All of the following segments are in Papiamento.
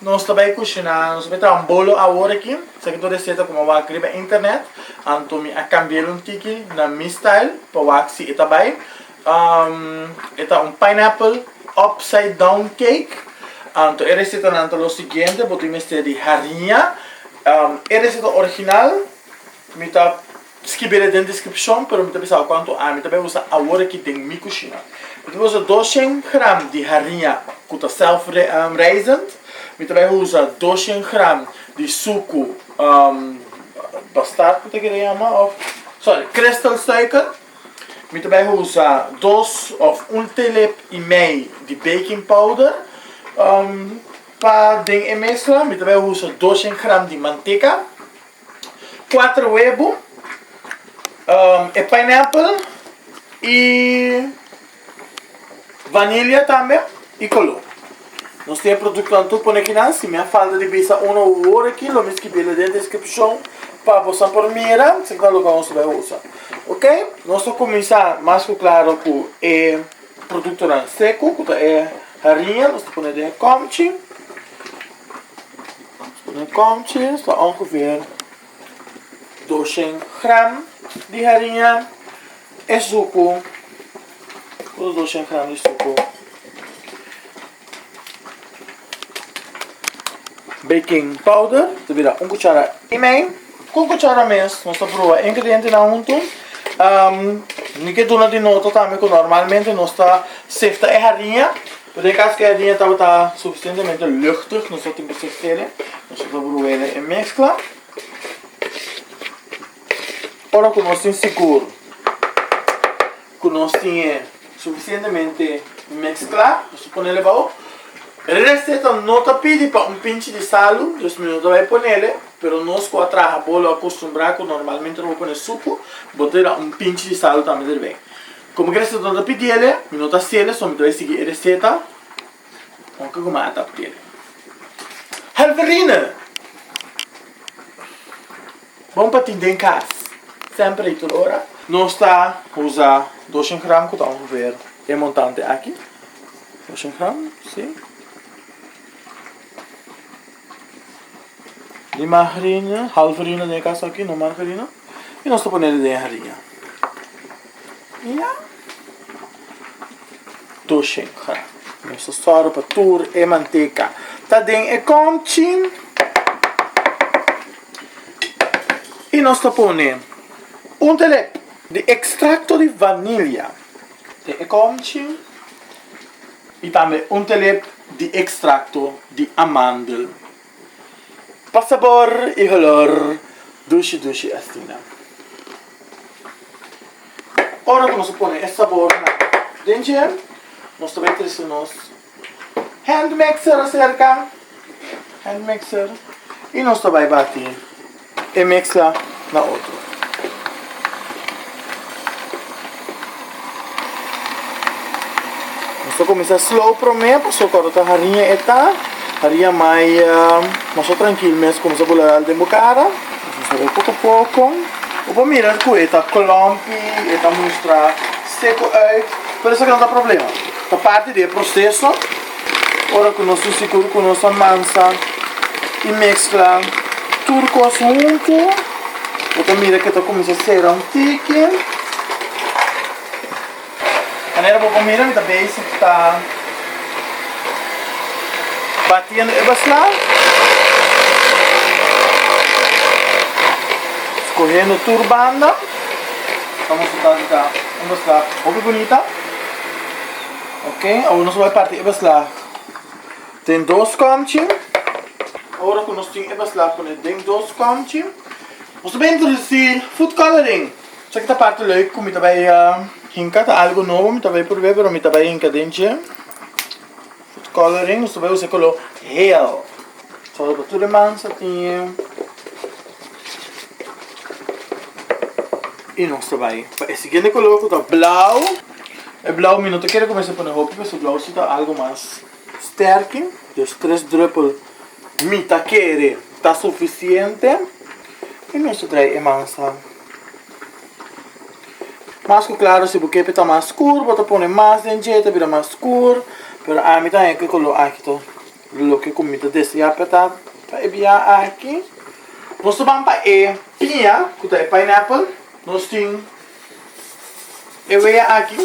Nos ta bai kushina, nos ta bai traha un bolo awor aki, esaki tur reseta ku mi a wak riba internet, anto mi a kambiel un tiki na mi style pa wak si e ta bai, e ta un pineapple upside down cake, anto e resetanan ta lo siguiente, bo tin mester di harinha, e reseta original mi ta Skibi la den deskripshon, pero mi ta bisa bo kuantu ami ta bai usa awor aki den mi kushina. Mi ta bai usa doshen gram di harinha ku ta self raisend, mi ta bai usa doshen gram di suku bastard ku ta kere yama of sorry kristal suiker, mi ta bai usa dos of un telep i mei di baking powder, pa den e mesla mi ta bai usa doshen gram di manteka. Cuater webo, e pineapple y vanilla tambe y color. Nos tin e productonan tur pone aki nan, si mi a falta di bisa uno u otro aki lo mi scribi la den descripcion pa bosa por mira si cu tal loke nos ta bay usa. Ok, nos ta cuminsa mas cu claro cu e productonan seco cu ta e hariña, nos ta pone den e comchi. Mi komchi sta ongeveer doshent gram di hariña e suku otro doshent gram di suku baking powder ta bira un kuchara i mei ku kuchara mes nos ta proba e ingredientenan huntu mi ke duna di nota tambe ku normalmente nos ta sefta e hariña Por den cas cu e harinha tabata suficientemente luchtig, nos lo tin por sofrele, nos lo ta por huele e mezcla. Ora cu nos tin sigur cu nos tin e suficientemente mezcla, nos lo ponele bao. E receta no ta pidi pa un pinchi di salu, dus mi no ta bay ponele, pero nos cu a traha bo lo a costumbra cu normalmente no bo pone sucu, bo ta bira un pinchi di salu tambe derbey. Como ki reseta no ta pidiele, mi no ta hacele, so mi ta bay sigui e reseta, con ke kuma a ta pidele. Halverine! Bon pa tin den cas, semper y tur ora. Nos ta uza doshen gram cu ta ongeveer e montante aki, doshen gram, si. Di margarina, half harina den e caso aki, no margarina. Y nos ta ponele den harina. Y ya. Tur shinga. Nos ta sora pa tur e manteca ta den e kom chin. Y nos ta pone un telep di extracto di vanilla den e kom chin. y tambe un telep di extracto di amandel pa sabor y holor dushi dushi asina. Ora cu nos a pone e sabornan den dje nos ta bay trece nos hand mixer acerca, hand mixer, y nos ta bay bati. E mezcla na otro. Nos ta cuminsa slow prome pasobra cuando ta harinha e ta harinha mai mas trankil mes cuminsa bula al den bo cara de poco poco bo por mira cu e ta clumpy e ta mustra seco uit pero esaki no ta problema ta parti di e proceso. Ora cu nos ta sigur cu nos a mansa y mezcla tur cos hunto, bo ta mira que ta cuminsa cera un tiki. Manera bo por mira mi ta bezig ta batiendo e basla, scohendo tur banda. Tabata un basla hopi bunita. Ok, awor nos bai parti e beslag. Den dos komchi. Ora ku nos tin e beslag pone den dos komchi. Nos ta bai introdusi food coloring. Sa ki ta parti leuk ku mi ta bai hinka. Ta algu nobo mi ta bai purbe pero mi ta bai hinka den dje. Food coloring, nos ta bai usa e koló hel. Sa tur e mansa tin. Y nos ta bay pa e siguiente color cu ta blauw. E blauw mi no ta kere cuminsa pone hopi pasobra blauw si ta algo mas sterke. Dus tres druppel mi ta kere ta suficiente. Y nos ta draai e mansa mas cu claro. Si bo kepi ta mas scur bo ta pone mas den dje ta bira mas scur. Pero ami ta haya cu e color aki ta. Loke ku mi ta deseá pa ta pa e biaha aki. Nos ta ban pa e piña ku ta e pineapple. Nos tin e wea aki.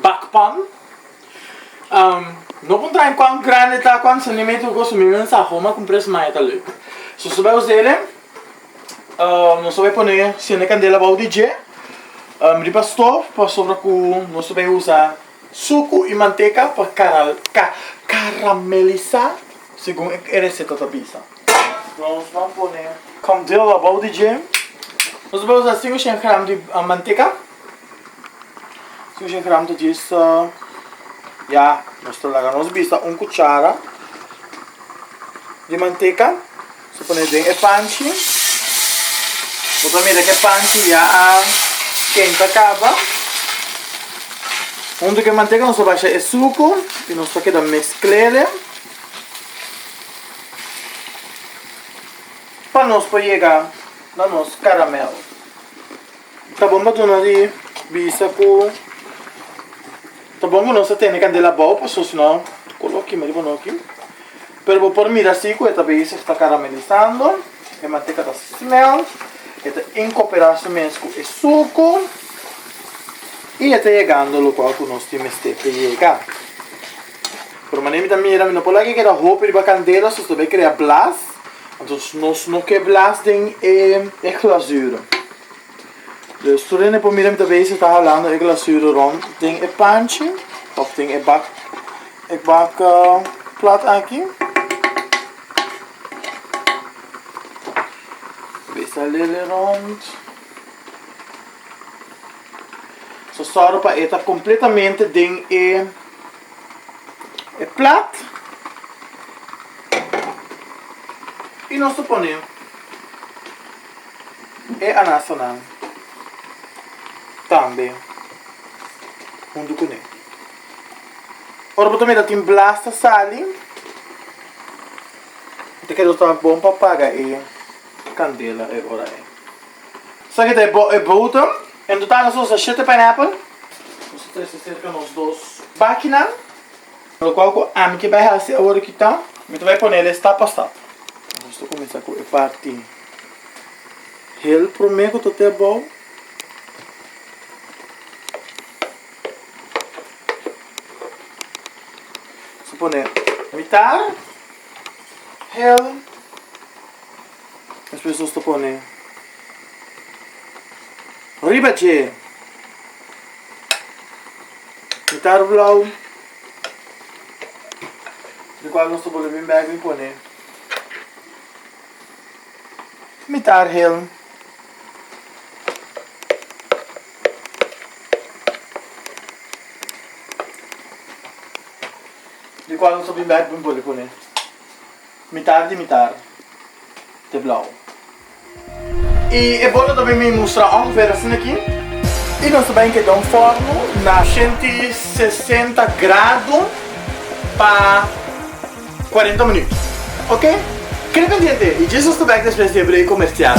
Bakpan. No kon traha kuan grandi e ta, kuan sentimentu ku kos. Mi no sa hou m'a kumpr'é sma e ta lek. So nos ta bai hos'e. Nos ta bai pone sende kandela abou di dje riba stof pasobra ku nos ta bai usa. Suku i manteka por karamelisá segun e reseta ta bisa. Nos lo a pone kòm deel abou di dje. Nos a usa sin shen gram di manteka. Sin shen gram ta djes ya. Nos ta laga nos bisa un kuchara di manteka. Lo pone den e panchi. Bo ta mira cu e panchi ya a kenta caba. Hunto cu e mantega nos a basha e sucur y nos ta keda mesclele pa nos por yega na nos caramel. Ta bon pa duna di bisa ku ta bon ku nos ta tene kandela abou paso sino ku lo kima riba noki. Pero bo por mira si ku e ta bezig ta karamelisando, e manteka ta smelt, e ta inkooperá su mes ku e suku i e ta yegando lugar ku nos tin mester pa yega. Pero manera mi ta mira mi no por laga keda hopi riba candela so ta bay crea blas entonces nos no ke blas den e glasura dus tur hende por mira mi ta bay si ta halando e glasura rond den e panchi of den e bak e bak plat aki bay salele rond so sòru pa e ta completamente den e. e plat y nos ta pone e anasanan tambe hunto cu ne. Ora bo ta mira tin blas ta sali, bo ta keda ta bon pa paga e candela e ora ei. Sa ki ta e bodem. En total nos a usa shete pineapple. Nos a trese cerca nos dos bakinan. Lo cual cu ami ke bay haci awor ki ta. Mi ta bay pone le stap pa stap. Nos ta cuminsa cu e parti hel prome cu ta te abou. Nos a pone mitar hel. Despues nos ta pone riba dje mitar blau, di cual nos ta bole bin bek bin pone mitar helm. Di cual nos ta bin bek bin bole pone Mitar di mitar te blauw. Y e bolo ta bai mi mustra ong ver asina aki. Y nos ta bai enkeda un forno na ciento sesenta grado pa cuarenta minuut. Ok. Kende pendiente y dje nos ta bek despues di e break comercial.